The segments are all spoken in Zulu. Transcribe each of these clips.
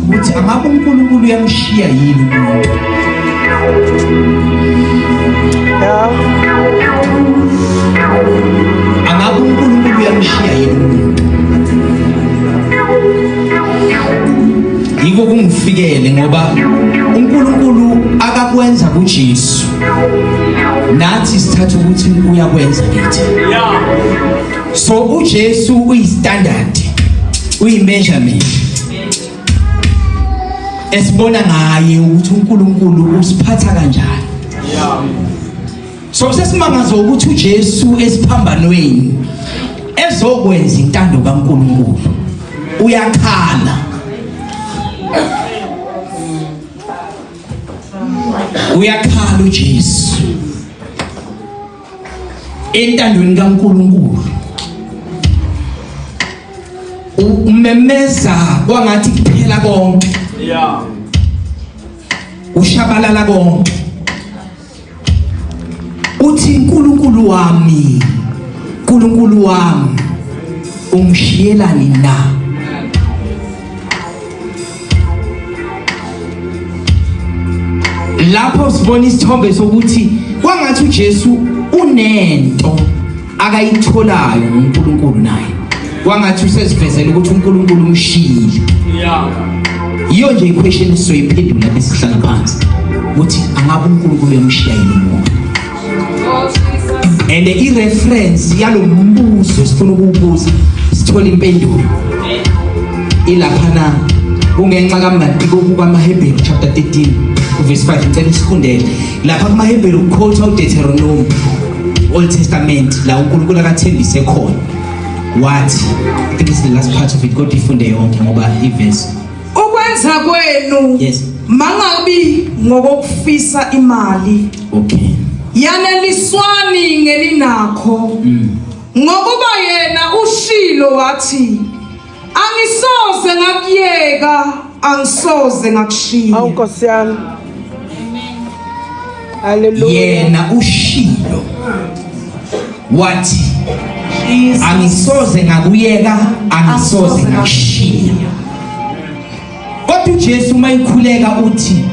ukuthi angabe uNkulunkulu uyamshiya yini umuntu angabe uNkulunkulu uyamshiya yini umuntu yiko kungifikele ngoba uNkulunkulu akakwenza kuJesu nathi sithatha ukuthi uyakwenza kithi yeah so uJesu uyistandard uyimeasurement esibona ngaye ukuthi uNkulunkulu usiphatha kanjani yeah so sesimangazo ukuthi uJesu esiphambanweni ezokwenza intando kaNkulunkulu uyakhala uyakhala uJesu entandweni kaNkuluNkulu umemeza kwangathi kuphela konke yeah ushabalala konke uthi uNkulunkulu wami uNkulunkulu wami ungishiyelani na lapho sibona isithombe sokuthi kwangathi uJesu unento akayitholayo ngoNkulunkulu naye kwangathi usezivezela ukuthi uNkulunkulu umshiyile yeah iyo nje iquestion esizoyiphendula besihlala phansi ukuthi angabe uNkulunkulu uyamshiya yini umuntu and i-reference yalo mbuzo esifuna ukuwubuza sithole impendulo ilapha na kungenxa kamnandi kokukwamahebheru chapter 13 verse 5 ngicela usikhundele lapha kumahebheru kukhotha udeuteronomi old testament la unkulunkulu akathembise khona wathi i think it's the last part of it kodwa ifunde yonke ngoba ivesi ukwenza kwenu yes mangabi ngokufisa imali okay yaneliswani ngeninakho mm. ngokuba yena ushilo wathi angisoze ngakuyeka angisoze ngakushiya awu nkosi yami yena ushilo wathi angisoze ngakuyeka angisoze ngakushiya kodwa uJesu mayikhuleka uthi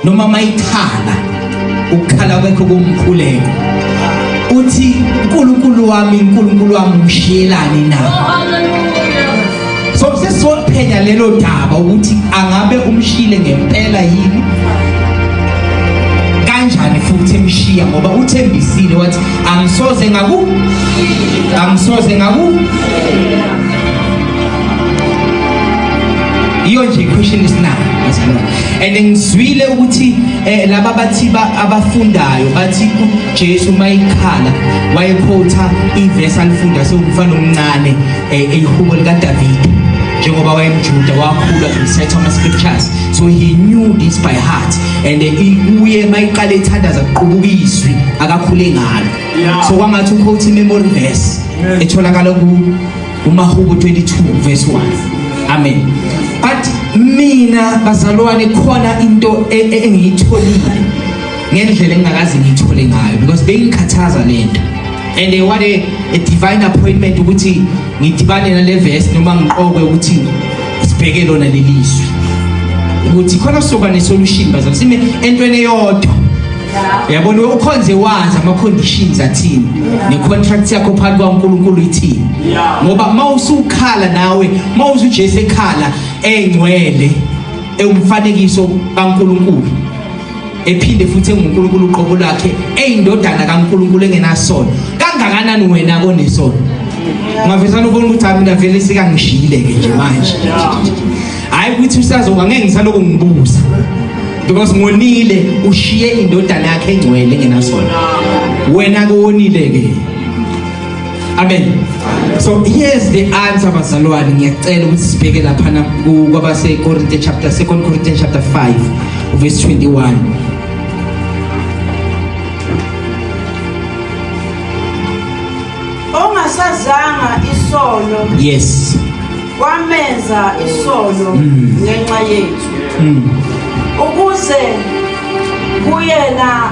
noma mayikhala ukukhala kwekho kumkhuleka uthi uNkulunkulu wami uNkulunkulu wami ngishiyelani na oh, so sesizophenya lelo daba ukuthi angabe umshile ngempela yini kanjani futhi emshiya ngoba uthembisile wathi angisoze ngaku angisoze ngaku iyo nje question isinayo and ngizwile ukuthi eh, laba bathi abafundayo bathi uJesu mayikhala wayekhotha iverse alifunda sewumfana omncane eh, elihubo likadavide njengoba wayemjuda wakhula ngomthetho ama-scriptures so he knew this by heart and eh, uye uma iqale ithandaza kuqubuka izwi akakhule ngalo so kwangathi ukhotha i-memory verse etholakala kumahubo 22 verse 1 amen but mina bazalwane khona into e, e, engiyitholile ngendlela engingakaze ngiyithole ngayo because bengikhathaza lento and eh, what a, a divine appointment ukuthi ngidibane nale verse noma ngiqokwe ukuthi sibheke lona leli zwi ukuthi khona soba ne-solution bazali sime entweni eyodwa yabona ukhonze wazi ama-conditions athini ne-contract yakho phakathi kwankulunkulu ithini ngoba uma usukhala nawe uma usujesu ekhala engcwele ewumfanekiso kankulunkulu ephinde futhi enguNkulunkulu uqobo lwakhe eyindodana kaNkulunkulu engenasono kangakanani wena konesono ngavesana ubona ukuthi mina vele sikangishile ke nje manje hayi ukuthi usazoba ngeke ngisaloko ngibuza because ngonile ushiye indodana yakhe engcwele engenasono wena ke wonile ke Amen. So here's the answer bazalwane ngiyacela ukuthi sibheke lapha na kwabase Korinte chapter 2 Corinthians chapter 5 verse 21. Ongasazanga isono. Yes. Wamenza isono mm. ngenxa yethu. Mm. Ukuze kuyena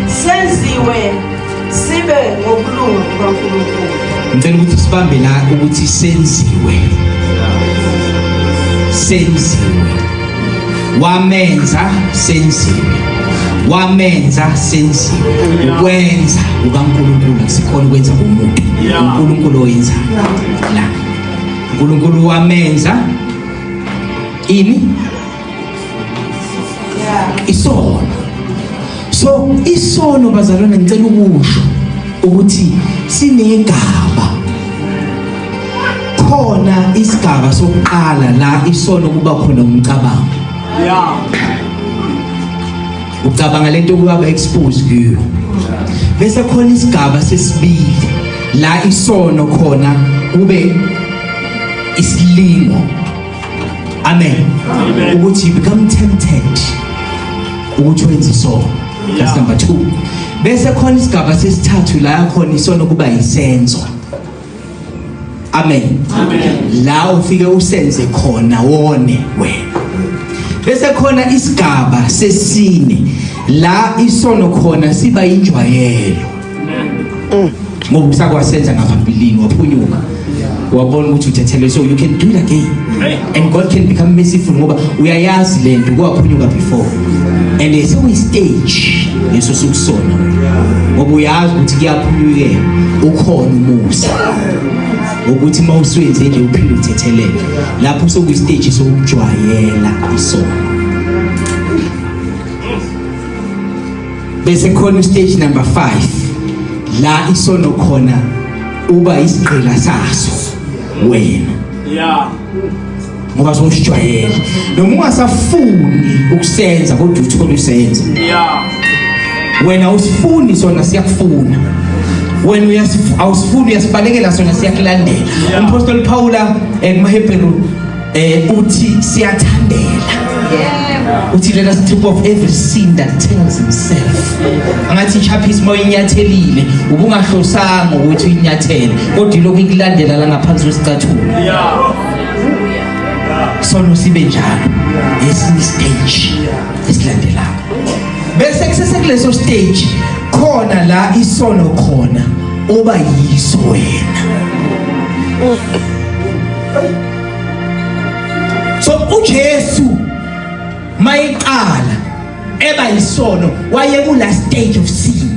senziwe sibe ngokulunga kukaNkulunkulu ngicela ukuthi sibambe la ukuthi senziwe senziwe wamenza senziwe wamenza senziwe ukwenza ukaNkulunkulu akusikhona ukwenza komuntu uNkulunkulu oyenza la uNkulunkulu wamenza ini isono so isono bazalwane ngicela ukusho ukuthi sinegaba khona isigaba sokuqala la isono kuba khona umcabango yeah ucabanga lento kuba exposed kuyo bese khona isigaba sesibili la isono khona kube isilingo amen ukuthi you become tempted ukuthi wenze isono that's number 2 bese khona isigaba sesithathu la yakhona isono kuba yisenzo amen la ufike usenze khona wone wena bese khona isigaba sesine la isono khona siba injwayelo mm. ngokusa kwasenza ngaphambilini waphunyuka wabona ukuthi uthethelwe so you can do it again and God can become merciful ngoba uyayazi le nto kwaphunyuka before and there's always stage leso sikusona ngoba uyazi ukuthi kuyaphunyukela ukhona umusa ukuthi uma usuyenze nje uphinde uthetheleke lapho usokwistage sokujwayela isono bese khona ustage number 5 la isono khona uba isigqila saso wena yeah ngoba sowusijwayele noma ungasafuni ukusenza kodwa uthole usenza yeah wena usifuni sona siyakufuna wena awusifuni uyasibalekela sona siyakulandela umpostoli Paula ekumaHebheru Eh uthi siyathandela. Yeah. Uthi let us take off every sin that tells himself. Angathi chaphi isimo inyathelile ubungahlosanga ukuthi inyathele kodwa lokhu ikulandela la ngaphansi kwesicathulo. Yeah. Sono sibe njalo. Esinye stage esilandelayo. Bese kusese kuleso stage khona la isono khona oba yiso wena. so uJesu mayiqala eba isono waye ku last stage of sin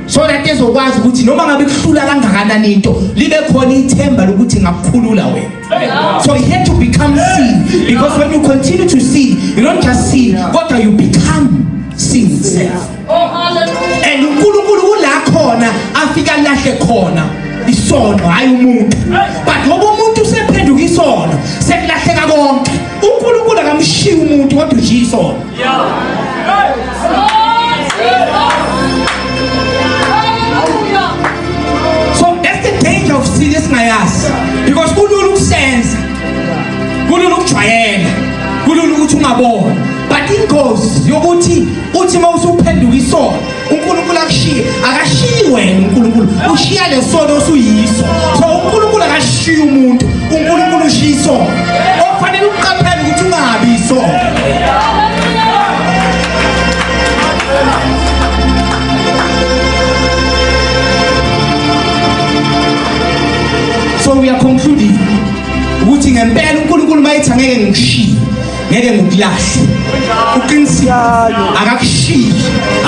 so that ezokwazi ukuthi noma ngabe kuhlula kangakanani into libe khona ithemba lokuthi ngakukhulula wena so he had to become sin because when you continue to sin you don't just sin kodwa you become sin itself and unkulunkulu kula khona afika lahle khona isono hhayi umuntu but ngoba umuntu usephenduka isono sekulahleka konke unkulunkulu akamshiyi umuntu kodwa ushiya isono so that's the danger of sin esingayazi because kulula ukusenza kulula ukujwayela kulula ukuthi ungabona but ingozi yokuthi uthi uma usuphenduka isono uNkulunkulu akushiye akashiyi wena uNkulunkulu ushiya lesono osuyiso so uNkulunkulu akashiyi umuntu uNkulunkulu ushiya isono okufanele uqaphele ukuthi ungabi isono so we are concluding ukuthi ngempela uNkulunkulu mayethe angeke ngikushiye ngeke ngikulahle uqinisile akakushiyi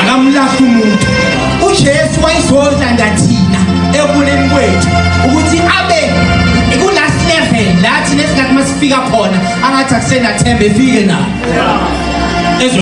akamlahle umuntu uJesu wayizodlanda thina ekuleni kwethu ukuthi abe ikulast level lathi nesikhathi masifika khona angathi akusenathemba efike nayo